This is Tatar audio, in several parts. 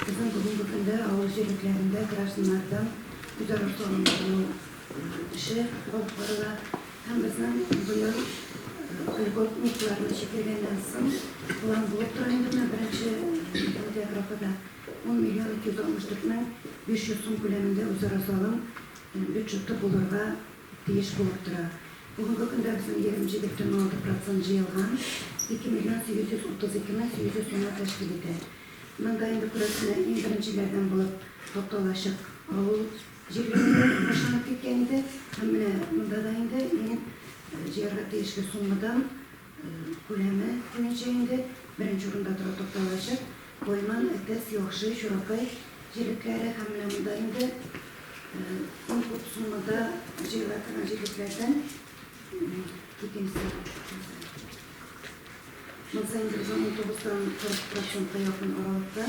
Безнең бүгенге көндә авыл җирлекләрендә гражданнардан күтәрү салымнарының үсеше алып барыла һәм безнең быел льготникларны чикергәннән соң план булып тора инде менә беренче тәүге графада 10 миллион 264 мең 500 сум күләмендә үзара салым бюджеты булырга тиеш булып тора. Бүгенге көндә безнең 27,6 процент җыелган, 2 миллион 832 мең 800 сумны тәшкил итә. Монда инде күрәсенә иң беренчеләрдән булып тукталачак. Авыл җирлегендә башланып киткән иде. Һәм менә монда да инде мин җыярга тиешле суммадан күләме буенча инде беренче урында тора тукталачак. Кайман, Әтәс, Яхшы, Чуракай җирлекләре һәм менә монда инде иң күп суммада җыела торган җирлекләрдән икенче урын. Ел саен бердәм 19 тан 40 процентка якын аралыкта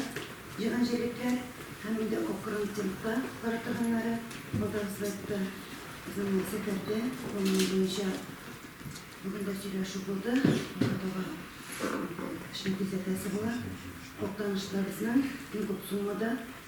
җыйган җилекләр һәм инде акрын темпта кар тыгыннары Волгоградта, Казанда, Сәкәрдә куллануы буенча бүген дә сөйләшү булды. Аңа таба эшне тизләтәсе була. Актанышлыларыбызның иң күп суммада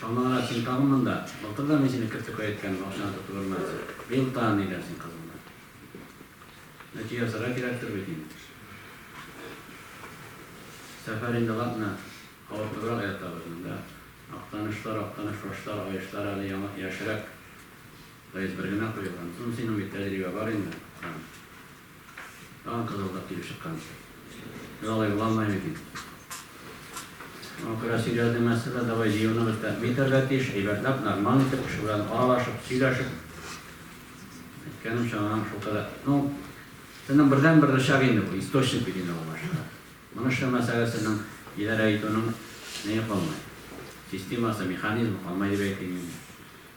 Чамалырга син тагын монда. Былтыр да мин сине кертеп кайткәнмен, акчаны тотып өрмәдең. Быел тагын ни дәрсең кызымны? Нәти ясарга кирәктер бит инде. Сәфәр инде ладно, авыртыбрак ятабыз монда. Актанышлар, Актаныш фашлар, аешлар әле яңа, яшьрәк. Поезд бер генә куелган. Соң синең бит тәҗрибә бар инде, Хан. Тагын кызылдап килеп чыккан икән. Без алай була алмыйбыз бит. Күрә сөйләде Мәсьәлә, давай җыюныбыз тәэмин итәргә тиеш, әйбәтләп, нормаль итеп, кеше белән аралашып, сөйләшеп. Әйткәнемчә, аның шул кадәр, ну, сезнең бердәнбер рычаг инде бу, источник бит инде бу башта. Моны эшләмәсәгез, сезнең идарә итүнең нәе калмый, системасы, механизмы калмый дип әйтим мин.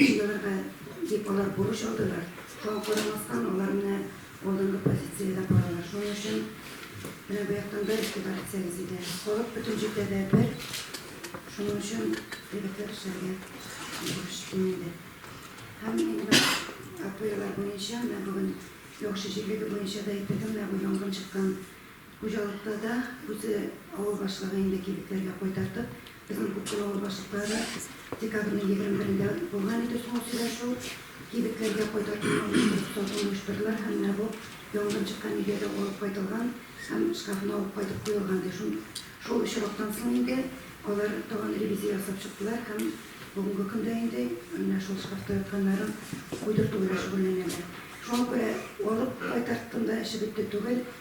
Җыелырга дип алар бурыч алдылар. Шуңа карамастан, алар менә алдынгы позициядә баралар. Шуның өчен менә бу яктан бер игътибар итсәгез иде. Халык бөтен җирдә дә бер. Шуның өчен егетләр эшләргә бурыч кимеде. Һәм инде бер АПОлар буенча, менә бүген яхшы җирлеге буенча да әйтергә, менә бу янгын чыккан Хуҗалыкта да үзе авыл башлыгы инде кибетләргә кайтартып, безнең Күксу авыл башлыклары декабрьнең егерме берендә булган иде соңгы сөйләшү, кибетләргә кайтартуны оештырып, сатуны оештырдылар һәм менә бу янгын чыккан өйгә дә алып кайтылган һәм шкафны алып кайтып куелган ди. Шун шул очрактан соң инде алар тагын ревизия ясап чыктылар һәм бүгенге көндә инде менә шул шкафта ятканнарын куйдырту белән шөгыльләнәләр. Шуңа күрә алып кайтартканда эше бетте түгел,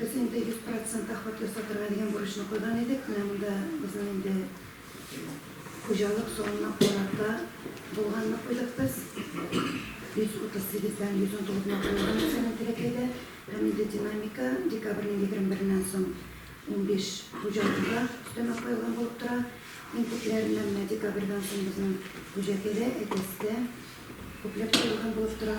Без инде 100 процент охват ясатырга дигән бурычны куйган идек. Менә монда безнең инде хуҗалык санына карата булганны куйдык без. 138 дән 119 га куелган икән Сәлим Теләкәйдә. Һәм инде динамика декабрьнең 21-ннән соң 15 хуҗалыкка өстәмә куелган булып тора. Иң күпләреннән менә декабрьдән соң безнең Хуҗәкәдә, Әтәстә күпләп куелган булып тора.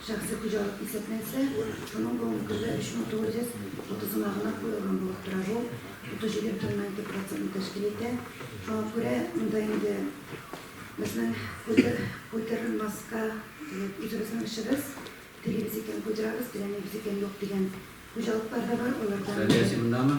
Шәхси хуҗалык исәпләнсә, шуның бүгенге көндә 3930 гына гына куелган булып тора. Бу 37,2 процентны тәшкил итә. Шуңа күрә монда инде безнең культурный маска, үзебезнең эшебез, телибез икән, культурабыз, теләмибез икән, юк дигән хуҗалыклар да бар, алардан. Сәлия, син мондамы?